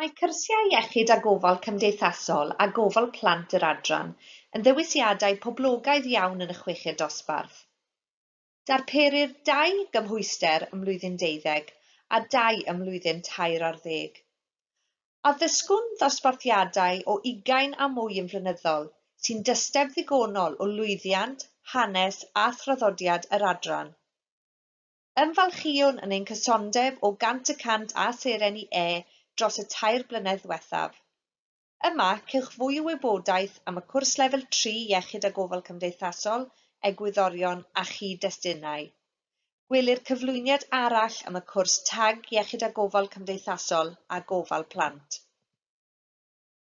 Mae cyrsiau iechyd a gofal cymdeithasol a gofal plant yr adran yn ddewisiadau poblogaidd iawn yn y chweched dosbarth. Darperir dau gymhwyster ym mlwyddyn deuddeg a dau ym mlwyddyn tair ar ddeg. Addysgwn ddosbarthiadau o ugain a mwy yn flynyddol sy'n dysteb ddigonol o lwyddiant, hanes a thraddodiad yr adran. Ymfalchïwn yn ein cysondeb o gant y cant â Seren i E dros y tair blynedd ddiwethaf. Yma, cewch fwy o wybodaeth am y cwrs Lefel Tri Iechyd a Gofal Cymdeithasol, Egwyddorion a Chyd-destunau. Gwelir cyflwyniad arall am y cwrs Tag Iechyd a Gofal Cymdeithasol a Gofal Plant.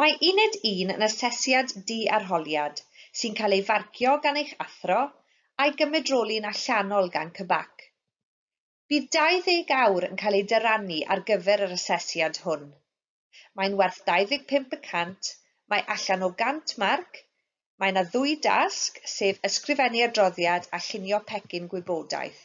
Mae Uned un yn asesiad di-arholiad sy'n cael ei farcio gan eich athro a'i gymedroli'n allanol gan CBAC. Bydd 20 awr yn cael eu dyrannu ar gyfer yr asesiad hwn. Mae'n werth 25 y cant, mae allan o 100 marc, mae yna ddwy dasg, sef ysgrifennu adroddiad a llunio pecyn gwybodaeth.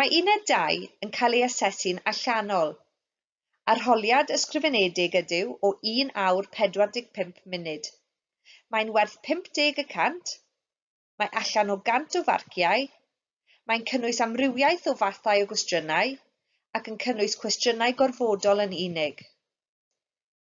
Mae Uned Dau yn cael ei asesu'n allanol. Arholiad ysgrifenedig ydyw o un awr 45 munud. Mae'n werth 50 y cant. Mae allan o 100 o farciau. Mae'n cynnwys amrywiaeth o fathau o gwestiynau, ac yn cynnwys cwestiynau gorfodol yn unig.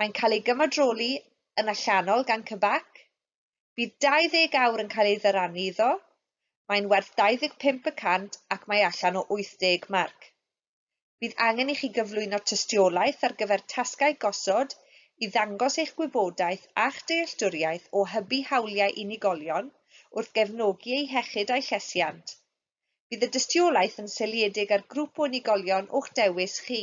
Mae'n cael ei gymadroli yn allanol gan CBAC. Bydd 20 awr yn cael ei ddyrannu iddo. Mae'n werth 25 y cant ac mae allan o 80 marc. Bydd angen i chi gyflwyno tystiolaeth ar gyfer tasgau gosod i ddangos eich gwybodaeth a'ch dealltwriaeth o hybu hawliau unigolion wrth gefnogi eu hiechyd a'u llesiant. Bydd y dystiolaeth yn seiliedig ar grŵp o unigolion o'ch dewis chi.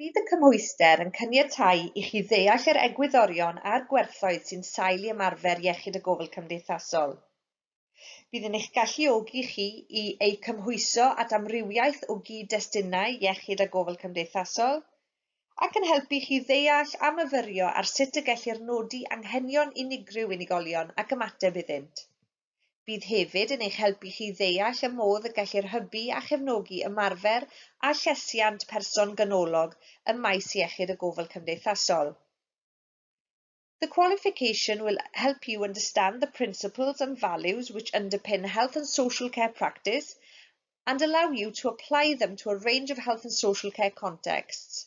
Bydd y cymhwyster yn caniatáu i chi ddeall yr egwyddorion a'r gwerthoedd sy'n sail i ymarfer iechyd a gofal cymdeithasol. Bydd yn eich galluogi chi i eu cymhwyso at amrywiaeth o gyd-destunau iechyd a gofal cymdeithasol, ac yn helpu chi ddeall a myfyrio ar sut y gellir nodi anghenion unigryw unigolion ac ymateb iddynt. Bydd hefyd yn eich helpu chi ddeall y modd y gellir hybu a chefnogi ymarfer a llesiant person ganolog ym maes iechyd a gofal cymdeithasol. The qualification will help you understand the principles and values which underpin health and social care practice and allow you to apply them to a range of health and social care contexts.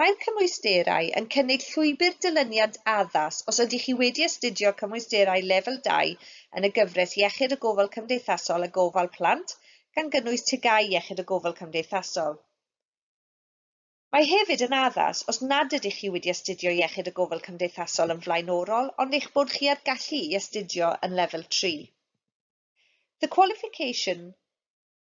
Mae'r cymwysterau yn cynnig llwybr dilyniant addas os ydych chi wedi astudio cymwysterau Lefel 2 yn y gyfres Iechyd a Gofal Cymdeithasol a Gofal Plant, gan gynnwys TGAU Iechyd a Gofal Cymdeithasol. Mae hefyd yn addas os nad ydych chi wedi astudio Iechyd a Gofal Cymdeithasol yn flaenorol ond eich bod chi â'r gallu i astudio yn Lefel 3. The qualification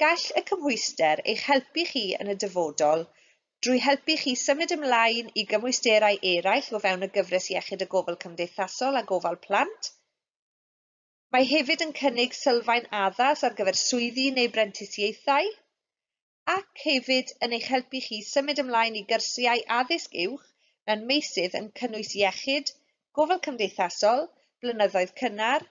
Gall y cymhwyster eich helpu chi yn y dyfodol drwy helpu chi symud ymlaen i gymwysterau eraill o fewn y gyfres Iechyd a Gofal Cymdeithasol a Gofal Plant. Mae hefyd yn cynnig sylfaen addas ar gyfer swyddi neu brentisiaethau, ac hefyd yn eich helpu chi symud ymlaen i gyrsiau addysg uwch mewn meysydd yn cynnwys iechyd, gofal cymdeithasol, blynyddoedd cynnar,